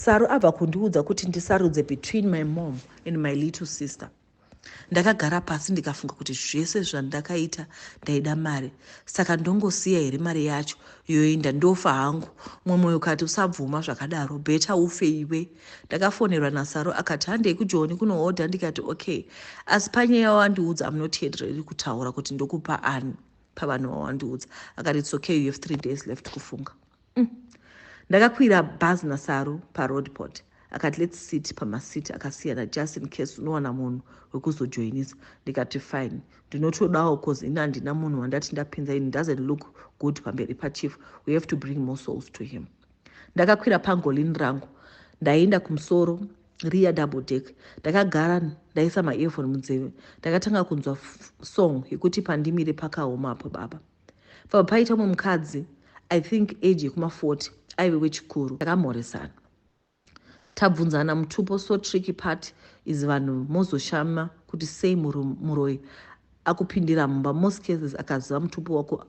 Saru abva kundiudza kuti ndisarudze between my mom and my little sister. Ndakagara pasi ndikafunga kuti zvese zvandakaita ndaida mari saka ndongosiya here mari yacho yoenda ndofa hangu. Mumwe moyo ukati usabvuma zvakadaro better ufe iwe. Ndakafonerwa naSaru akati handei kuJoni kunohodha ndikati okay asi panyaya yawandiudza I'm not yet ready kutaura kuti ndokupa ani pavanhu vawandiudza akati it's okay you have three days left kufunga. Umm ndakakwira bhazi naSaru paroadport akati let's sit pamaseat akasiyana just in case unowana munhu wekuzojoinisa ndikati fine ndinotodawo cause ini handina munhu wandati ndapinza ini doesn't look good pamberi pachief we have to bring more souls to him ndakakwira pangolin rangu ndaienda kumusoro riya double deck ndakagara ndaisa maearphone munzeve ndakatanga kunzwa song yekuti pandimire pakaoma apo baba Pabva paita umwe mukadzi i think age yekuma 40 aive wechikuru takamhoresana tabvunzana mutupo so tricky part is vanhu mozoshama kuti sei muroyi akupindira mumba most cases akaziva mutupo wako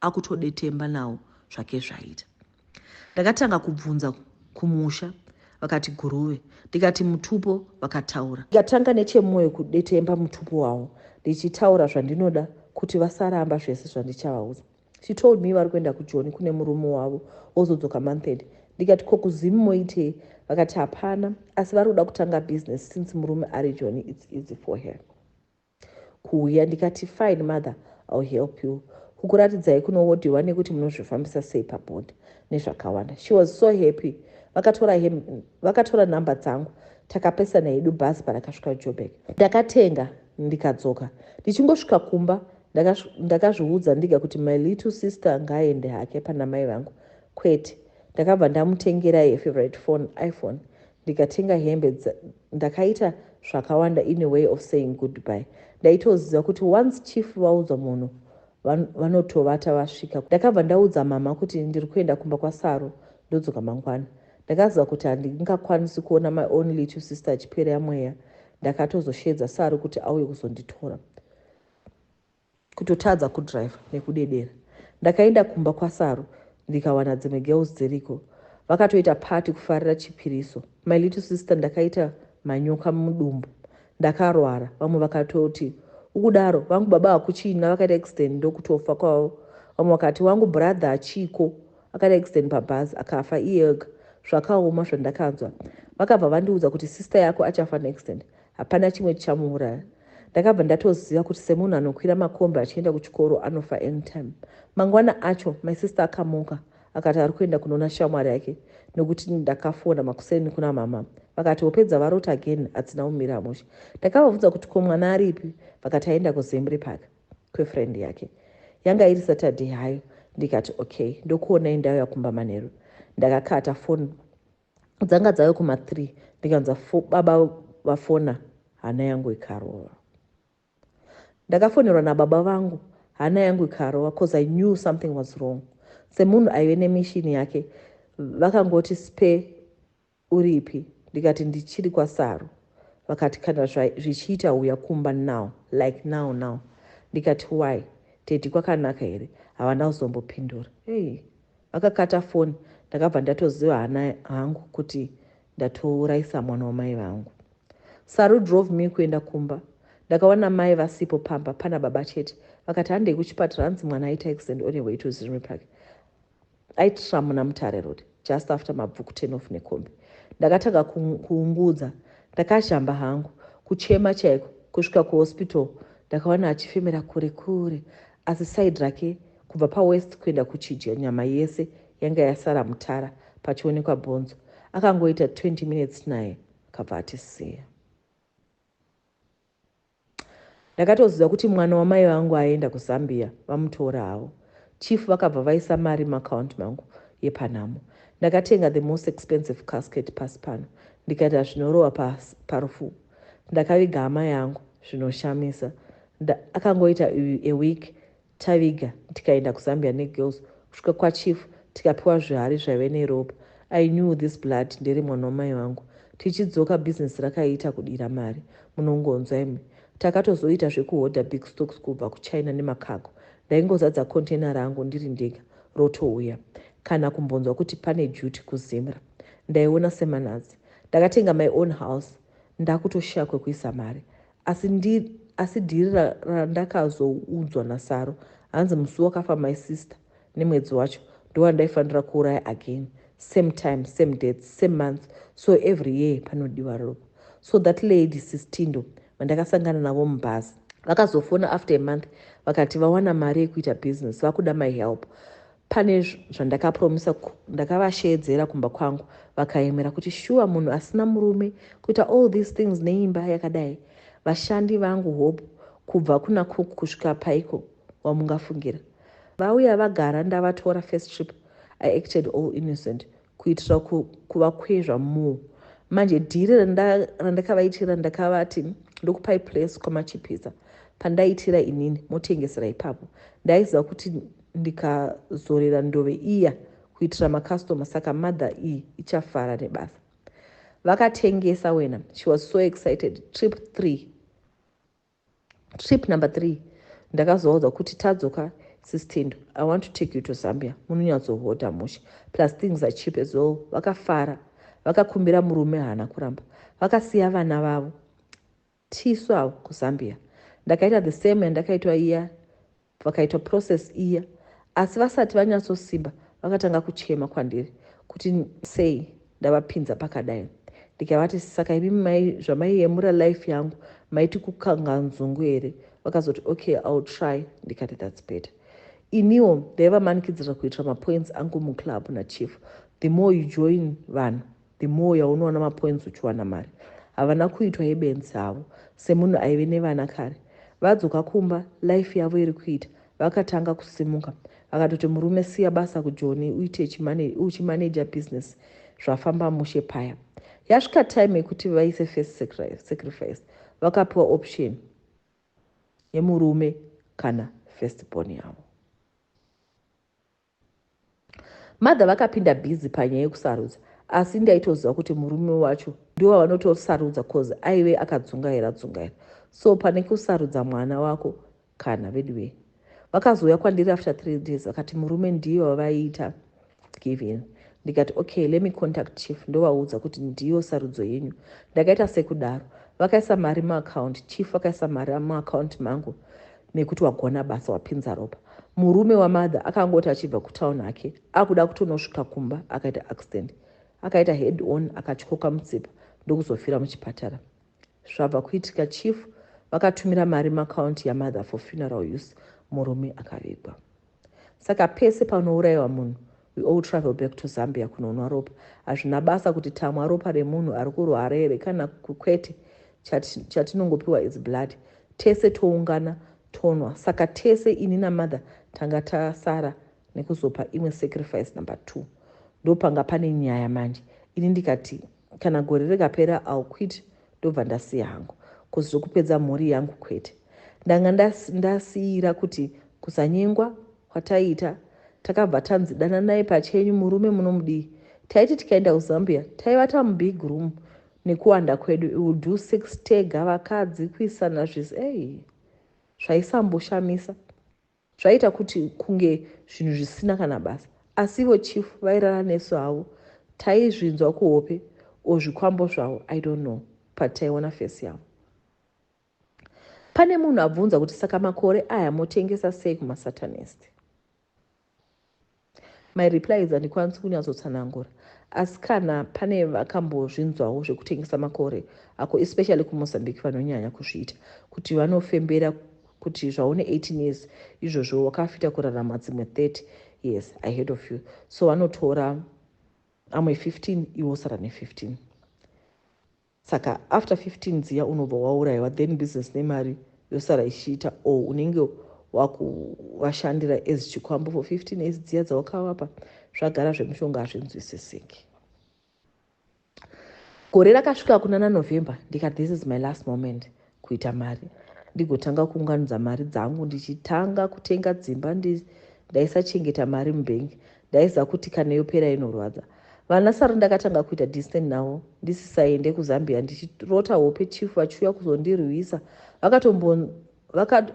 akutodetemba nawo zvake zvaita Ndakatanga kubvunza kumusha vakati guruve ndikati mutupo vakataura ndikatanga nechemoyo kudetemba mutupo wavo ndichitaura zvandinoda kuti vasaramba zvese zvandichavaudza she told me vari kuenda kujoni kune murume wavo wozodzoka monthend ndikati ko kuzimu moitei vakati hapana asi vari kuda kutanga business since murume ari joni its easy for her kuuya ndikati fine mother I'll help you kukuratidzai kunowodiwa nekuti munozvifambisa sei pabond nezvakawanda she was so happy vakatora hem vakatora number dzangu takapesana hedu bhazi parakasvika jobek ndakatenga ndikadzoka ndichingosvika kumba ndakazviudza ndiga kuti my little sister ngaaende hake pana mai vangu kwete ndakabva ndamutengera yefavorite phone iphone ndikatenga hembe ndakaita zvakawanda in a way of saying goodbye ndaitoziva kuti once chief vaudza munhu vanotovata vasvika ndakabva ndaudza mama kuti ndiri kuenda kumba kwasaro ndodzoka mangwana ndakaziva kuti handingakwanisi kuona my only two sister achipereya mweya ndakatozoshedza saro kuti auye kuzonditora kutotadza kudriver nekudedera ndakaenda kumba kwasaru ndikawana dzimwe girls dziriko vakatoita party kufarira chipiriso my little sister ndakaita manyoka mudumbu ndakarwara vamwe vakatoti ukudaro vangu baba hakuchina vakaita accident ndokutofa kwavo vamwe vakati wangu brother achiko akaita accident pabhazi akafa iye ega zvakaoma zvandakanzwa vakabva vandiudza kuti sister yako achafa neaccident Hapana chimwe chichamuuraya. Ndakabva ndatoziva kuti semunhu anokwira makombi achienda kuchikoro anofa anytime. Mangwana acho my sister akamuka akati ari kuenda kunoona shamwari yake nekuti ndakafona makuseni kuna mama vakati hope dzavarota again hadzina kumira mushe. Ndakavabvunza kuti ko mwana aripi vakati aenda kuzembri park kwefriend yake. Yanga iri Saturday hayo ndikati okay ndokuonai ndauya kumba manheru. Ndakakata phone dzanga dzave kuma three ndikanzwa baba vafona hana yangu ikarova ndakafonerwa nababa vangu hana yangu ikarova bcause i knew something was wrong semunhu aive nemishini yake vakangoti spe uripi ndikati ndichiri kwasaru vakati kana zvichiita uya kumba now like now now ndikati why tedi kwakanaka here havana kuzombopindura hey. Vakakata foni ndakabva ndatoziva hana hangu kuti ndatouraisa mwana wamai vangu. Saru drove me kuenda kumba ndakawana mai vasipo pamba pana baba chete vakati handei kuchipatara hanzi mwana aita accident on your way to Zirimi Park aitira muna Mutare Road just after mabvuku ten off nekombi. Ndakatanga kuungudza ndakazhamba hangu kuchema chaiko kusvika kuhospital ndakawana achifemera kure kure Asi side rake kubva pawest kuenda kuchidya nyama yese yanga yasara mutara pachionekwa bhonzo. Akangoita 20 minutes naye akabva atisiya. Ndakatoziva kuti mwana wamai vangu aenda kuZambia vamutora havo. Chief vakabva vaisa mari muaccount mangu yepanhamo. Ndakatenga the most expensive casket pasi pano ndikaita zvinorova parufu. Ndakaviga hama yangu zvinoshamisa. Ndakangoita a week taviga tikaenda kuZambia negirls kusvika kwachief tikapiwa zvihari zvaive neropa. I knew this blood ndere mwana wamai vangu. Tichidzoka business rakaiita kudira mari munongonzwa imwi. Takatozoita zvekuhodha big stocks kubva kuChina nemacargo. Ndaingozadza container rangu ndiri ndega rotouya. Kana kumbonzwa kuti pane duty kuZimra. Ndaiona semanatsi. Ndakatenga my own house ndakutoshaya kwekuisa mari. Asi ndi asi dhiri randakazoudzwa nasaro hanzi musi wakafa my sister nemwedzi wacho ndowandaifanira kuuraya again same time same dates same months so every year panodiwa ropa so that lady sistindo vandakasangana navo mubhazi vakazofona after a month vakati vawana mari yekuita business vakuda my help Pane zvandakapromisa ndakavasheedzera kumba kwangu vakayemera kuti shuwa munhu asina murume kuita all these things neimba yakadai vashandi vangu hope kubva kuna cook kusvika paiko wamungafungira vauya vagara ndavatora first trip i acted all innocent kuitira kuvakwezva more manje dhiri randakavaitira ndakavati ndokupai place kwamachipisa pandaitira inini motengesera ipapo ndaiziva kuti ndikazorera ndove iya kuitira makastoma saka mother iyi ichafara nebasa vakatengesa wena she was so excited trip three trip number three ndakazovaudza kuti tadzoka sistendo i want to take you to zambia munonyatsohota mushe plus things are cheap as well vakafara vakakumbira murume haana kuramba vakasiya vana vavo tisu avo kuzambia ndakaita the same yandakaitwa iya Vakaitwa process iya asi vasati vanyatsosimba vakatanga kuchema kwandiri kuti sei ndavapinza pakadai ndikavati saka imi mai zvamaiyemura life yangu maiti kukanga nzungu here vakazoti okay ill try ndikati thats better iniwo ndaivamanikidzira kuitira mapoints angu muclub nachief the more you join vanhu The more yaunoona mapoints uchiwana mari. Havana kuitwa yebenzi avo. Semunhu aive nevana kare. Vadzoka kumba life yavo iri kuita. Vakatanga kusimuka. Vakatoti murume siya basa kujoni uite uchimanager business zvafamba mushe paya. Yasvika time yekuti vaise first sacrifice. Vakapiwa option yemurume kana first born yavo. Mother vakapinda busy panyaya yekusarudza asi ndaitoziva kuti murume wacho ndiwo vavanotosarudza coz aive akadzungaira dzungaira so pane kusarudza mwana wako kana veduwee. Vakazouya kwandiri after three days vakati murume ndiye wavaiita given ndikati okay let me contact chief ndovaudza kuti ndiyo sarudzo yenyu. Ndakaita sekudaro vakaisa mari muaccount chief vakaisa mari muaccount mangu mekuti wagona basa wapinza ropa murume wamother akangoti achibva kutown hake akuda kutonosvika kumba akaita accident akaita head on akatyoka mutsipa ndokuzofira muchipatara zvabva kuitika chief vakatumira mari macounti yamother for funeral use murume akavigwa Saka pese panouraiwa munhu we all travel back to Zambia kunonwa ropa. Hazvina basa kuti tamwa ropa remunhu ari kurwara here kana kwete, chatinongopiwa is blood. Tese toungana tonwa. Saka tese ini namother tanga tasara nekuzopa imwe sacrifice number two. Ndopanga pane nyaya manje. Ini ndikati kana gore rekapera I'll quit ndobva ndasiya hangu coz zvekupedza mhuri yangu kwete ndanga ndasiira kuti kusanyengwa kwataiita takabva tanzi dananai pachenyu murume munomudii taiti tikaenda kuzambia taivata mubig room nekuwanda kwedu iwill do sex tega vakadzi kuisana zvese ei zvaisamboshamisa Zvaiita kuti kunge zvinhu zvisina kana basa asi ivo chief vairara nesu havo taizvinzwa kuhope or zvikwambo zvavo I don't know but taiona face yavo. Pane munhu abvunza kuti saka makore aya motengesa sei kumasatanist? My replies handikwanisi kunyatsotsanangura asi kana pane vakambozvinzwawo zvekutengesa makore ako especially kumozambique vanonyanya kuzviita kuti vanofembera kuti zvaune 18 years izvozvo wakafita kurarama dzimwe 30 years ahead of you so vanotora amwe 15 iwosara ne 15 Saka after 15 dziya unobva wauraiwa then business nemari yosara ichiita or unenge wakuvashandira as chikwambo for 15 years dziya dzawakavapa zvagara zvemushonga hazvinzwisisiki gore rakasvika kunana november ndika this is my last moment kuita mari ndigotanga kuunganidza mari dzangu ndichitanga kutenga dzimba ndi ndaisachengeta mari mubhengi ndaiziva kuti kana yopera inorwadza vana sara ndakatanga kuita distant navo ndisisaende kuzambia ndichirota hope chief vachiuya kuzondirwisa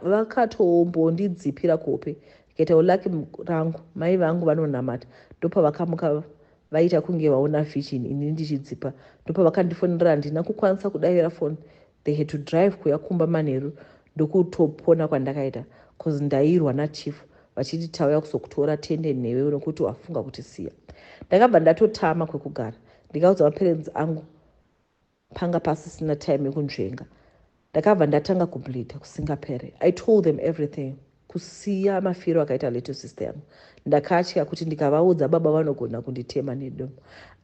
vakatombondidzipira kuhope ndikaitawo laki rangu mai vangu vanonamata ndopavakamuka Vaita kunge vaona vision ini ndichidzipa ndopavakandifonera handina kukwanisa kudavira phone they had to drive kuya kumba manheru ndokutopona kwandakaita cause ndairwa nachief vachiti tauya kuzokutora tende nhewe nokuti wafunga kutisiya ndakabva ndatotama kwekugara ndikaudza maparents angu Panga pasisina time yekunzvenga ndakabva ndatanga kubleeder kusingapere. I told them everything kusiya mafiro akaita little sister yangu. Ndakatya kuti ndikavaudza baba vanogona kunditema nedomo.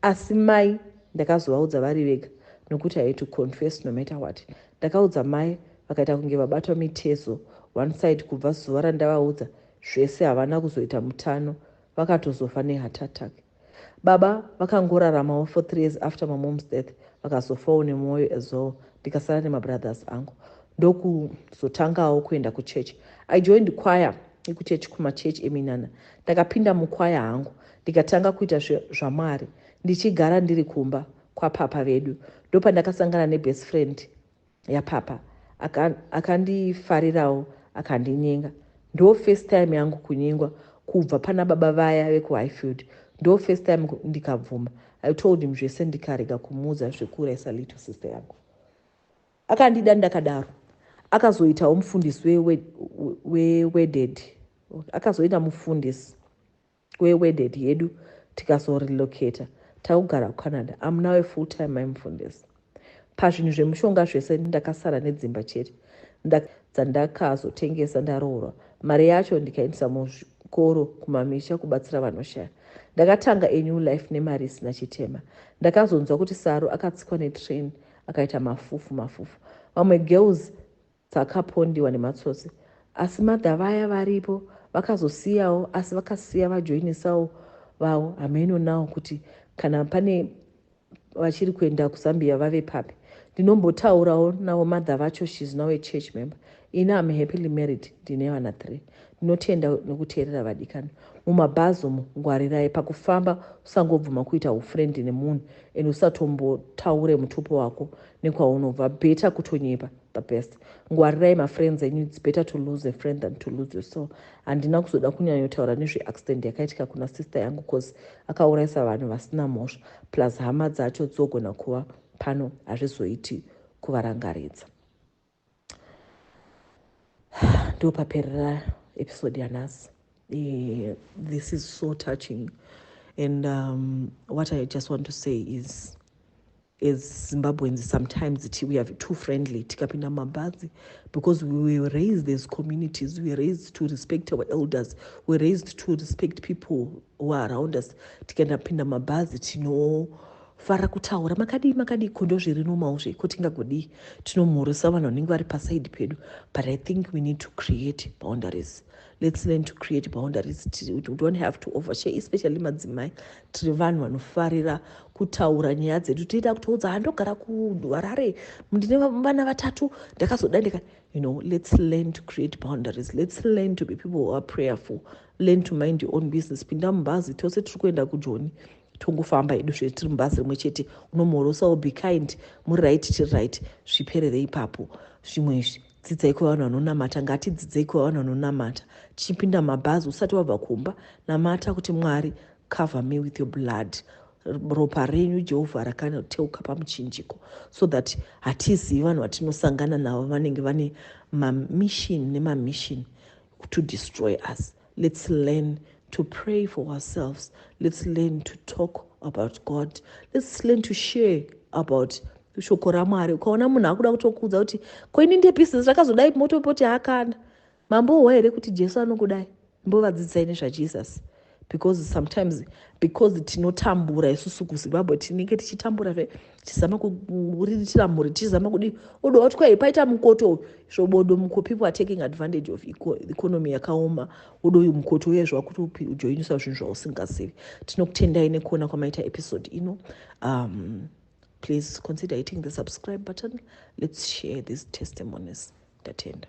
Asi mai ndakazovaudza vari vega nokuti I had to confess no matter what. Ndakaudza mai vakaita kunge vabatwa mitezo one side kubva zuva randavaudza zvese havana kuzoita mutano vakatozofa neheart attack. Baba vakangoraramawo for three years after my mom's death vakazofawo nemwoyo as well ndikasara nemabrothers angu ndokuzotangawo kuenda kuchurch. I joined choir yekuchurch kumachurch eminana. Ndakapinda muchoir hangu ndikatanga kuita zvamwari ndichigara ndiri kumba kwapapa vedu ndopandakasangana nebest friend yapapa akandifarirawo akandinyenga ndo first time yangu kunyengwa kubva pana baba vaya vekuhighfield ndo first time ndikabvuma i told him zvese ndikarega kumuudza zvekuurayisa little sister yangu akandida ndakadaro akazoitawo mufundisi weweded akazoita mufundisi We wedded hedu tikazo relocater takugara kuCanada. I'm now a full time mai mufundisi. Pazvinhu zvemushonga zvese ndakasara nedzimba chete dzandakazotengesa ndaroorwa. Mari yacho ndikaendesa muzvikoro kumamisha kubatsira vanoshaya. Ndakatanga a new life nemari isina chitema. Ndakazonzwa kuti Saru akatsikwa netrain akaita mafufu mafufu. Vamwe girls dzakapondiwa nematsotsi asi mother vaya varipo vakazosiyawo asi vakasiya vajoinisawo vavo hameno now kuti kana pane vachiri kuenda kuzambia vave papi ndinombotaurawo navo mother vacho shes now a church member ini am happily married ndine vana three ndinotenda nokuteerera vadikani mumabhazi umu ngwarirai pakufamba usangobvuma kuita ufriend nemunhu and usatombotaure mutupo wako nekwaunobva beta kutonyepa the best ngwarirai mafriends enyu its better to lose a friend than to lose your soul handina kuzoda kunyanyotaura nezveaccident yakaitika kuna sister yangu cause akaurayisa vanhu vasina mhosva plus hama dzacho dzogona kuva pano hazvizoiti kuvarangaridza ndo paperera episode yanhasi eh, this is so touching and um, what i just want to say is As Zimbabweans sometimes ti we are too friendly tikapinda mumabhazi because we were raised as communities, we were raised to respect our elders, we were raised to respect people who are around us. Tikaenda pinda mumabhazi tinofara kutaura makadii makadii ko ndozviri nomawo zve ko tingagodii tinomhorosa vanhu vanenge vari pasaidi pedu but I think we need to create boundaries Let's learn to create boundaries tiri kuti we don't have to overshare especially madzimai tiri vanhu vanofarira kutaura nyaya dzedu tiita kutoudza handogara kuharare ndine vana vatatu ndakazoda ndika you know let's learn to create boundaries let's learn to be people who are prayerful learn to mind your own business pinda mubhazi tose tiri kuenda kujoni tongofamba hedu zvee tiri mubhazi rimwe chete unomhorosawo be kind muri right tiri right zviperere ipapo zvimwe izvi Dzidzai kuva vanhu vanonamata. Ngatidzidzei kuva vanhu vanonamata. Tichipinda mumabhazi usati wabva kumba, namata kuti Mwari, cover me with your blood. Ropa renyu Jehovha rakanoteuka pamuchinjiko so that hatizivi vanhu vatinosangana navo vanenge vane mamishini nemamishini to destroy us let's learn to pray for ourselves let's learn to talk about god let's learn to share about shoko ramwari ukaona munhu akuda kutokuudza kuti koini ndepisi zvakazodai motopoti hakana mambo uwa here kuti jesu anokudai mbovadzidzisai nezvajesus because sometimes because tinotambura isusu kuzimbabwe tinenge tichitambura ve tichizama kuriritira mhuri tichizama kudii odo wati kwai paita mukoto uyu svobodo muko people are taking advantage of economy yakaoma odo uyu mukoto uye zvakuti ujoinisa zvinhu zvausingazivi tinokutendai nekuona kwamaita episode ino um, please consider hitting the subscribe button let's share these testimonies tatenda